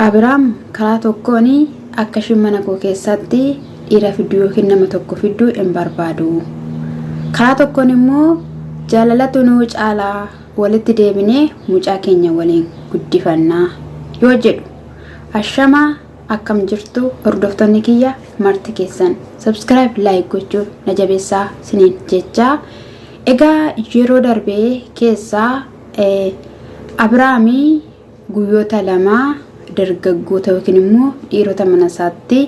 Abiraam karaa tokkoon akka ishiin mana koo keessatti dhiira fidduu yookiin nama tokko fidduu hin barbaadu. Karaa tokkoon immoo jaalalatu nu caalaa walitti deebinee mucaa keenya waliin guddifannaa yoo jedhu. Ashama akkam jirtu hordoftoonni kiyya marti keessan subscribe like gochuun na jabeessaa siniin jechaa. Egaa yeroo darbee keessaa Abiraamii guyyoota lama dargaggoota yookiin immoo dhiirota mana isaatti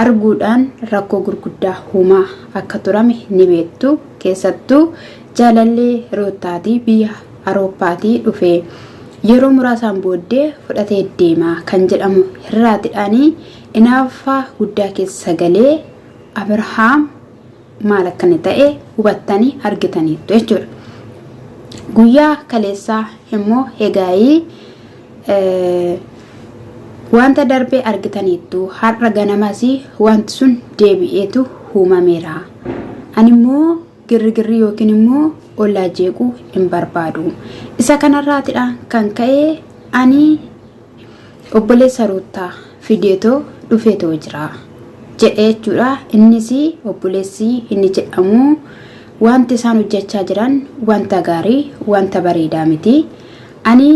arguudhaan rakkoo gurguddaa uumaa akka turame ni beektu keessattuu jaalallee roottaatii biyya arooppaatii dhufe yeroo muraasaan booddee fudhatee deemaa kan jedhamu hirraatidhaanii inaaffaa guddaa keessa galee abrahaam maal akka inni ta'e hubattanii argitaniittu jechuudha. Guyyaa kaleessaa immoo egaayii wanta darbee argitaniittu har'a ganamas wanti sun deebi'eetu uumameera. Ani immoo girrigirri yookiin immoo ollaa jeequu hin barbaadu. Isa kanarraatidha kan ka'e ani Obboleessa Ruuttaa fideetoo dhufeetoo jira jedhe jechuudha. Innis obboleessi inni jedhamu wanti isaan hojjechaa jiran wanta gaarii wanta bareedaa miti. Ani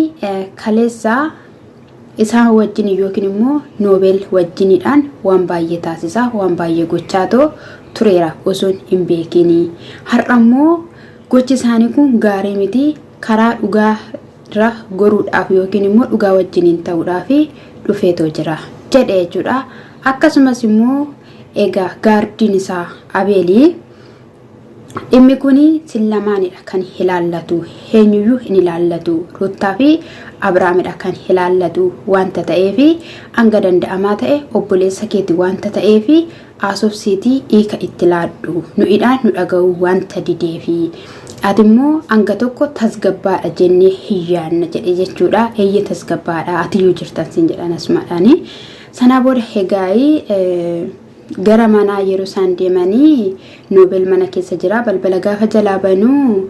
kaleessa isaan wajjin yookiin immoo noobeel wajjiniidhaan waan baay'ee taasisaa waan baay'ee gochaatoo tureera osoon hin beekiin. Har'a immoo gochi isaanii kun gaarii miti karaa dhugaa irra goruudhaaf yookiin immoo dhugaa wajjiniin ta'uudhaaf dhufeetoo jira jedhe jechuudha. Akkasumas immoo egaa gaardiin isaa Abeelii dhimmi kun sin lamaanidha kan ilaallatu eenyuyyuu hin ilaallatu Ruuttaa fi Abiraamidha kan ilaallatu wanta ta'eef hanga danda'amaa ta'e obboleessa keeti wanta ta'eef haasofsiiti hiika itti laadhu. Nu idhaa nu dhaga'uu wanta dideefi. Ati immoo hanga tokko tasgabbaadha jennee hin yaadna jedhe jechuudha. Eeyyee tasgabbaadha atiyyuu jirtan siin jedhan asmaadhaani. Sanaa booda hegaa'ii gara manaa yeroo isaan deemanii noobel mana keessa jira balbala gaafa jalaa banuu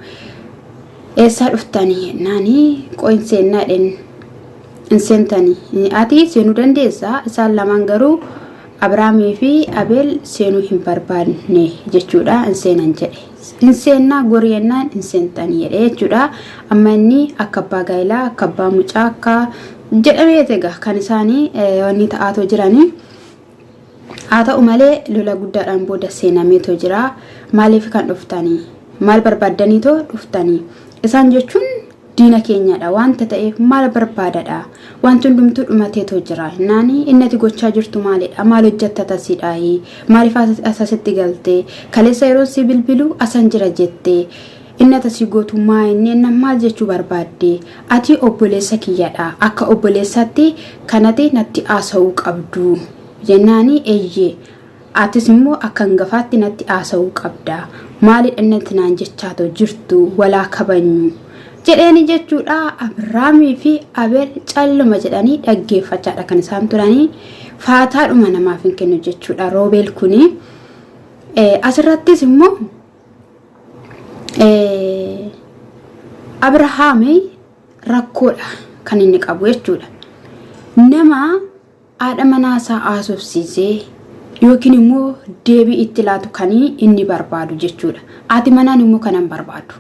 eessaa dhuftanii jennaanii qo'in seennaa dhen hin seentani. Ati seenuu dandeessa, isaan lamaan garuu Abrahaamii fi Abeel seenuu hin barbaanne jechuudha. Hin seenan jedhe. Hin seennaa gorii jennaan hin seentan jedhe jechuudha. Amma inni akka abbaa gaa'ilaa, akka abbaa mucaa, akka jedhamee egaa kan isaanii wanni ta'aatoo jiranii. Haa ta'u malee lola guddaadhaan booda seenameetoo jira. Maaliif kan dhuftanii? Maal barbaaddaniitoo dhuftanii? Isaan jechuun diina keenyadha. Wanta ta'eef maal barbaadadha? Wanti hundumtuu dhumateetoo jira. Naani inni ati gochaa jirtu maalidha? Maal hojjetta tasiidhaayi? Maaliif asasitti galtee? Kaleessa yeroon si bilbilu asan jira jettee? Inni ata sii gootu maa inni ennan maal jechuu barbaadde ati obboleessa kiyyadha akka obboleessaatti kan ati natti aasa'uu qabdu jennaani eyye atis immoo akka angafaatti natti aasa'uu qabda maalidha inni ati naan jechaato jirtu walaa kabanyu jedheeni jechuudha Abiraamii fi Abeel calluma jedhanii dhaggeeffachaadha kan isaan turanii faataadhuma namaaf hin kennu jechuudha roobeel kuni asirrattis immoo Abrahaam rakkoodha kan inni qabu jechuudha. Nama haadha manaa isaa haasofsiisee yookiin immoo deebii itti laatu kan inni barbaadu jechuudha. Haati manaan immoo kan hin barbaadu.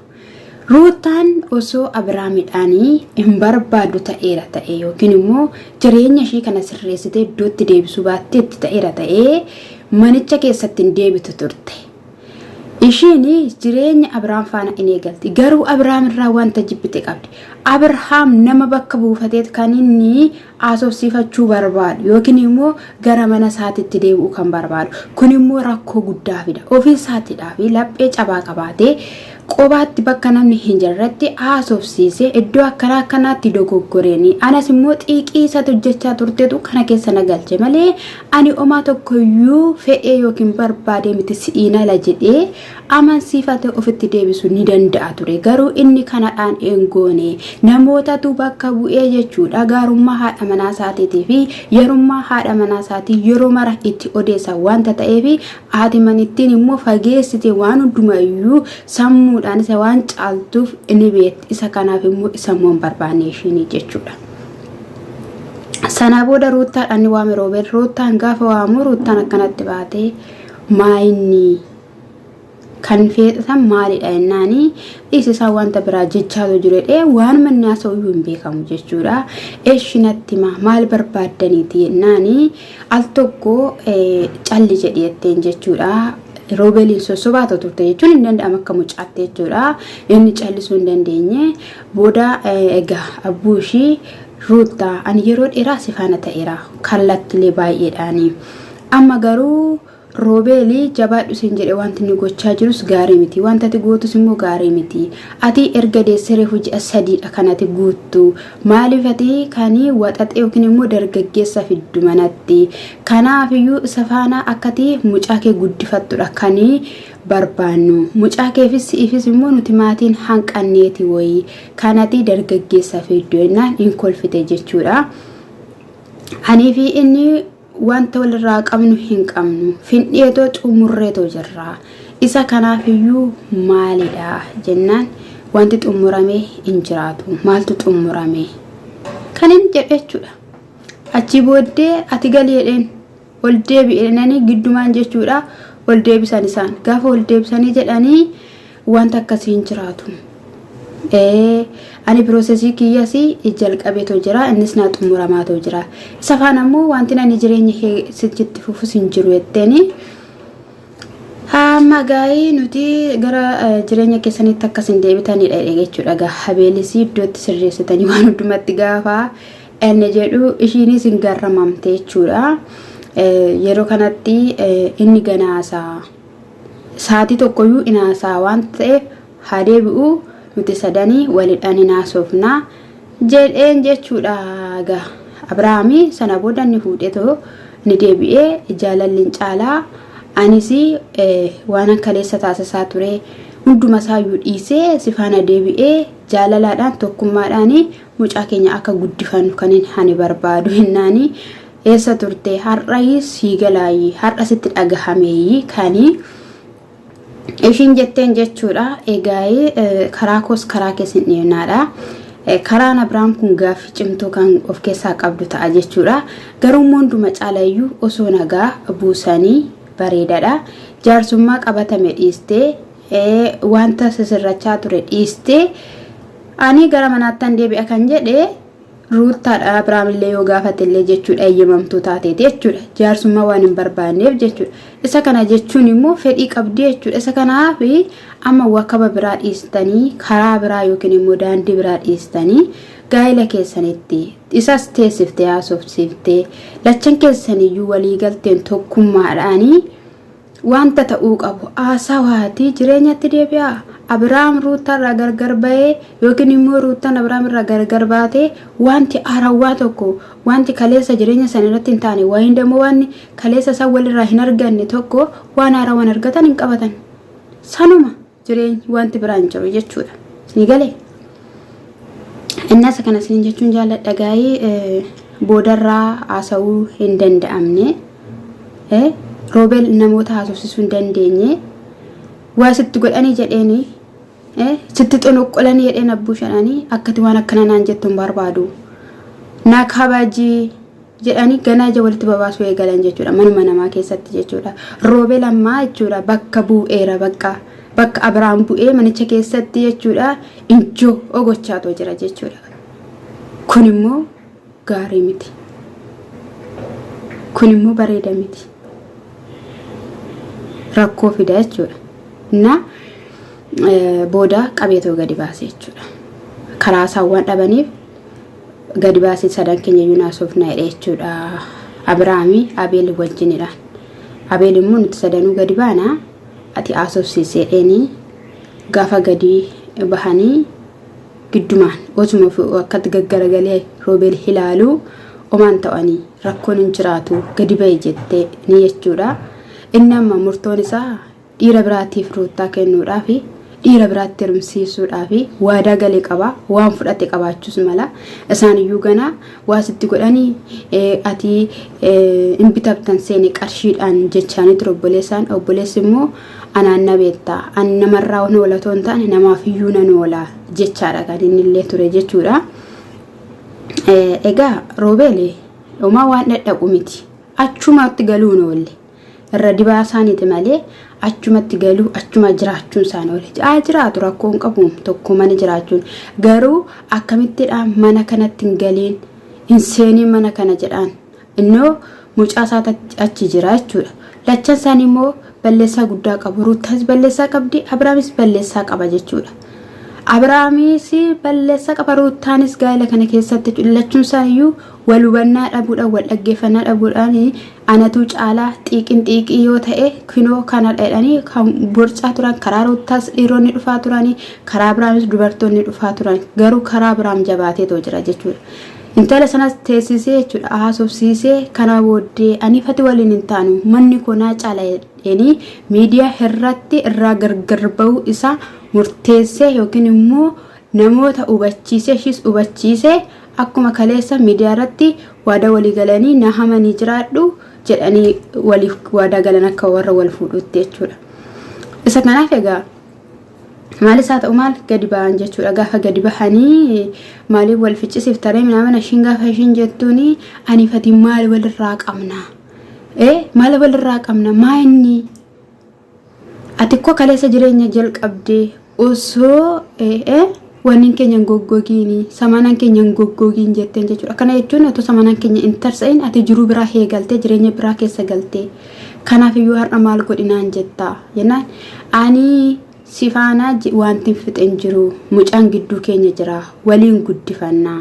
Ruutaan osoo Abrahaamidhaan hin barbaadu ta'eera ta'e yookiin immoo jireenya ishee kana sirreessitee iddootti deebisuu baattee itti ta'eera ta'ee manicha keessatti hin deebitu turte. Ishiin jireenya Abrahaam faana in eegalti. Garuu Abrahaam irraa wanta jibbite qabdi. Abrahaam nama bakka buufateet kan inni haasofsiifachuu barbaadu yookiin immoo gara mana isaatitti deebi'uu kan barbaadu. Kun immoo rakkoo guddaa fida. Ofii isaatiidhaa fi laphee cabaa qabaatee qobaatti bakka namni hin jirretti haasofsiisee iddoo akkanaa akkanaatti dogoggoreenii anas immoo xiiqii isaatti hojjechaa turteetu kana keessa na galche malee Ani omaa tokkoyyuu fedhee yookiin barbaadee miti si'iin ala jedhee amansiifatee ofitti deebisu ni danda'a ture. Garuu inni kanadhaan een goone. Namootatu bakka bu'ee jechuudha. Gaarummaa haadha manaa isaatiitii fi yarummaa haadha manaa isaatii yeroo mara itti odeessa wanta ta'eef haati manittiin immoo fageessite waan hundumayyuu sammuudhaan isa waan caaltuuf ni beekti. Isa kanaaf immoo isa immoo hin barbaanne ishiin jechuudha. Sanaa booda Ruuttaadhaan ni waame Roobeen. Ruuttaan gaafa waamu Ruuttaan akkanatti baatee maayinni kan feexatan maalidha jennaani dhiisi isaa wanta biraa jechaatu jiredhee waan manni haasa'u iyyuu hin beekamu jechuudha. Eeshi natti maa maal barbaaddaniiti jennaani al tokko calli jedhi jetteen jechuudha. Roobeliin sossobaa turte jechuun hin danda'amu akka mucaatti jechuudha. Inni callisuu hin dandeenye. Booda egaa abbuu ishii Ruuttaa ani yeroo dheeraa si faana ta'eera kallattilee baay'eedhaani. Amma garuu Roobeeli jabaadhu siin jedhe wanti inni gochaa jirus gaarii miti. Wanta ati gootus immoo gaarii miti. Ati erga deessee reefu ji'a sadiidha kan ati guuttu. Maaliif ati kan waxaxee yookiin immoo dargaggeessa fiddu manatti. Kanaafiyyuu isa faana akkati mucaa kee guddifattudha kan barbaannu. Mucaa keefis si'iifis immoo nuti maatiin hanqanneeti wayii kanati dargaggeessa fiiddu ennaan in kolfite jechuudha. Anii fi inni wanta walirraa qabnu hin qabnu findheetoo xumurreetoo jirra. Isa kanaaf iyyuu maalidha jennaan wanti xumurame hin jiraatu maaltu xumurame kan hin jedhe jechuudha. Achii booddee ati galii jedheen ol deebi'eenanii giddumaan jechuudha ol deebisan isaan gaafa ol deebisanii jedhanii wanta akkasii hin jiraatu. Ani piroosesii kiyyas jalqabeetoo jira innis naa xumuramaatoo jira isa faan ammoo wanti ani jireenya kee sichitti fufus hin jiru jetteeni. Amma gaa'ii nuti gara jireenya keessanitti akkas hin deebitanidha jechuudha gaa habeelisii iddootti sirreessitanii waan hundumatti gaafa Inni jedhu ishiinis hin garramamte jechuudha. Yeroo kanatti inni ganaasaa saatii tokkoyyuu hin haasaa waan ta'eef haa deebi'u nuti sadanii walidhaan hin haasofna jedheen jechuudha. Egaa Abirahaami sana booda inni fuudheetoo ni deebi'ee jaalalli hin caalaa anis waan kaleessa taasisaa ture hundumasaayyuu dhiisee si faana deebi'ee jaalalaadhaan tokkummaadhaan Mucaa keenya akka guddifannu kanin ani barbaadu hinnaani eessa turte har'ayi sii galaayyi har'a sitti dhagahameeyyi kani ishiin jetteen jechuudha egaa'ee karaa koos karaa kees hin dhiibnaadha. Karaan Abiraam kun gaaffii cimtuu kan of keessaa qabdu ta'a jechuudha. Garuu immoo hunduma caalayyuu osoo nagaa buusanii bareedaadha. Jaarsummaa qabatame dhiistee ee wanta sisirrachaa ture dhiistee ani gara manaattan deebi'a kan jedhe ruuttaadha abiraamillee yoo gaafatellee jechuudha eeyyamamtuu taateeti jechuudha jaarsummaa waan hin barbaanneef jechuudha isa kana jechuun immoo fedhii qabdii jechuudha isa kanaaf amma wakaba biraa dhiistanii karaa biraa yookiin immoo daandii biraa dhiistanii gaa'ila keessanitti isas teessiftee haasofsiiftee lachan keessaniyyuu waliigalteen tokkummaadhaanii Wanta ta'uu qabu, a Sawaatii jireenyatti deebi'aa? Abiraam Ruuttaa irraa gargar ba'ee yookiin immoo Ruuttaan Abiraam irraa gargar baatee wanti haarawwaa tokko, wanti kaleessa jireenya san irratti hin taane, wayiin dammoo wanni kaleessa isaan walirraa hin arganne tokko waan haarawaan argatan hin qabatan. Sanuma! jireenyi wanti biraa hin jiru jechuudha. Isinii galee? Innas kana isin jechuun jaalladha gaa'ee boodarraa haasa'uu hin danda'amne. Roobel namoota haasofsiisuu hin dandeenye. Waa sitti godhanii jedheeni sitti xunuqqulanii jedheen abbuu shadhanii akkati waan akkana naan jettu hin barbaadu. Naa kabajii jedhanii ganaa ija walitti babaasuu eegalan jechuudha manuma namaa keessatti jechuudha roobel ammaa jechuudha bakka bu'eera bakka bakka abiraan bu'ee manicha keessatti jechuudha injoo ogochaatoo jira jechuudha kun immoo gaarii miti kun immoo bareeda miti rakkoo fida jechuudha na booda qabeetoo gadi baase jechuudha karaa saawwan dhabaniif gadi baasii sadan keenya iyyuu naasofna jedhe jechuudha abiraami abeeli wajjinidhaan abeel immoo nuti sadanuu gadi baana ati haasofsiisee dheenii gaafa gadi bahanii giddumaan osuma akkatti gaggaragalee roobeel ilaaluu omaan ta'anii rakkoon hin jiraatu gadi ba'e jettee ni jechuudha inni amma murtoon isaa dhiira biraatiif ruuttaa kennuudhaaf dhiira biraatti hirmsiisuudhaaf waadaa gale qaba waan fudhate qabaachuus mala isaan iyyuu ganaa waa sitti godhanii ati hin bitabtan seene qarshiidhaan jechaanii ture obboleessaan obboleessi immoo anaan na beektaa ani namarraa waan oolatoo hin taane namaaf iyyuu nan oolaa jechaadha kan inni illee ture jechuudha. Egaa roobeeli homaa waan dhadhaqu miti achumaatti galuun oolle. Irra dibaa isaaniiti malee achumatti galuu achuma jiraachuun isaanii oole. Haa jiraatu rakkoo hin qabu tokko mana jiraachuun. Garuu akkamittidha mana kanatti hin galiin hin seeniin mana kana jedhaan. Innoo mucaa isaa achi jira jechuudha. Lachan isaanii immoo balleessaa guddaa qabu. Ruuttaas balleessaa qabdi, Abiraamis balleessaa qaba jechuudha. Abiraamis balleessaa qaba, Ruuttaanis gaa'ela kana keessatti lachuun isaaniiyyuu wal hubannaa dhabuudhaan wal dhaggeeffannaa dhabuudhaan Anatu caalaa xiiqin xiiqii yoo ta'e kinoo kana jedhanii kan borcaa turan karaa ruuttaas dhiironni dhufaa turanii karaa biraanis dubartoonni dhufaa turan garuu karaa biraam jabaateetoo jira jechuudha. Intala sanas teessisee jechuudha haasofsiisee kana booddee ani fati waliin hin taanu manni koo naa caala jedheenii miidiyaa irratti irraa gargar ba'uu isaa murteessee yookiin immoo namoota hubachiisee ishiis hubachiisee Akkuma kaleessa miidiyaa irratti waadaa walii galanii na hamanii jiraadhu jedhanii waliif waadaa galan akka warra wal fuudhuutti jechuudha. Isa kanaaf egaa maalis haa ta'u maal gadi ba'an jechuudha. Gaafa gadi bahanii maaliif wal ficcisiif taree minaamana ishiin gaafa ishiin jettuun ani fatiin maal walirraa qabna? Ee maal walirraa qabna? Maa inni Atikko kaleessa jireenya jalqabde osoo wannin keenya hin goggogiin samanaan keenya hin goggogiin jetteen jechuudha. Kana jechuun otoo samanaan keenya hin tarsa'in ati jiruu biraa heegaltee jireenya biraa keessa galtee kanaaf iyyuu har'a maal godhinaan jettaa jennaan ani si faanaa wanti hin fixe hin jiru mucaan gidduu keenya jira waliin guddifannaa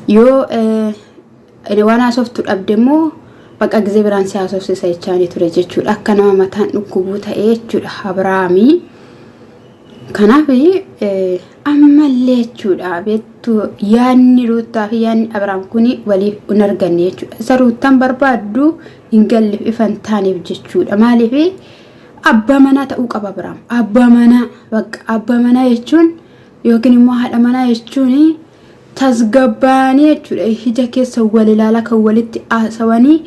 yoo Waan haasoftu dhabde immoo baqa gizee biraan si haasofsisa jechaanii ture jechuudha. Akka nama mataan dhukkubuu ta'ee jechuudha Abiraamii. Kanaaf ammallee jechuudha beektu yaadni ruuttaa fi yaadni Abiraam kun waliif hin arganne jechuudha. Isa ruuttaan barbaaddu hin galleef ifa hin taaneef jechuudha. Maaliif abbaa manaa ta'uu qaba Abiraam. Abbaa manaa bakka abbaa manaa jechuun yookiin immoo haadha manaa jechuun tasgabbaa'anii jechuudha ija keessa wal ilaala kan walitti haasawanii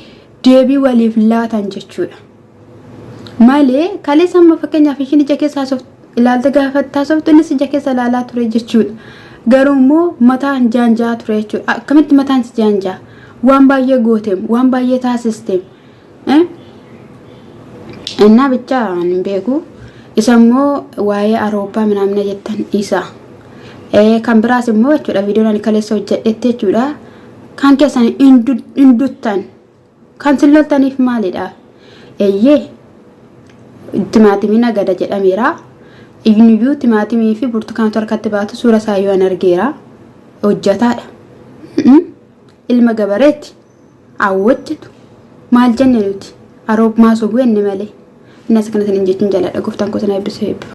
deebii waliif laatan jechuudha. Malee kaleessa amma fakkeenyaaf ishiin ija keessa ilaaltee gaafattaa sooftu innis ija keessa ilaalaa ture jechuudha. Garuu immoo mataan jaanjaa ture jechuudha. Akkamitti mataan si jaanjaa? Waan baay'ee gooteem, waan baay'ee taasisteem. Innaa bichaa hin beeku. Isa immoo waa'ee Awurooppaa minaamina jettan isa. Kan biraas immoo jechuudha viidiyoon ani kaleessa hojjedhetti jechuudha. Kan keessan hin duttan. Kan sin loltaniif maalidha? Eeyyee timaatimii nagada jedhameera. Iyyuu timaatimii fi burtukaantu harkatti baatu suura isaa yoo an argeera. Hojjataadha. Ilma gabareeti. Awwajjatu maal jenne nuti aroob maa sobuu enne malee. Innas akkana sinin jechun jaladha goftan koo sana ebbisuu ebbifama.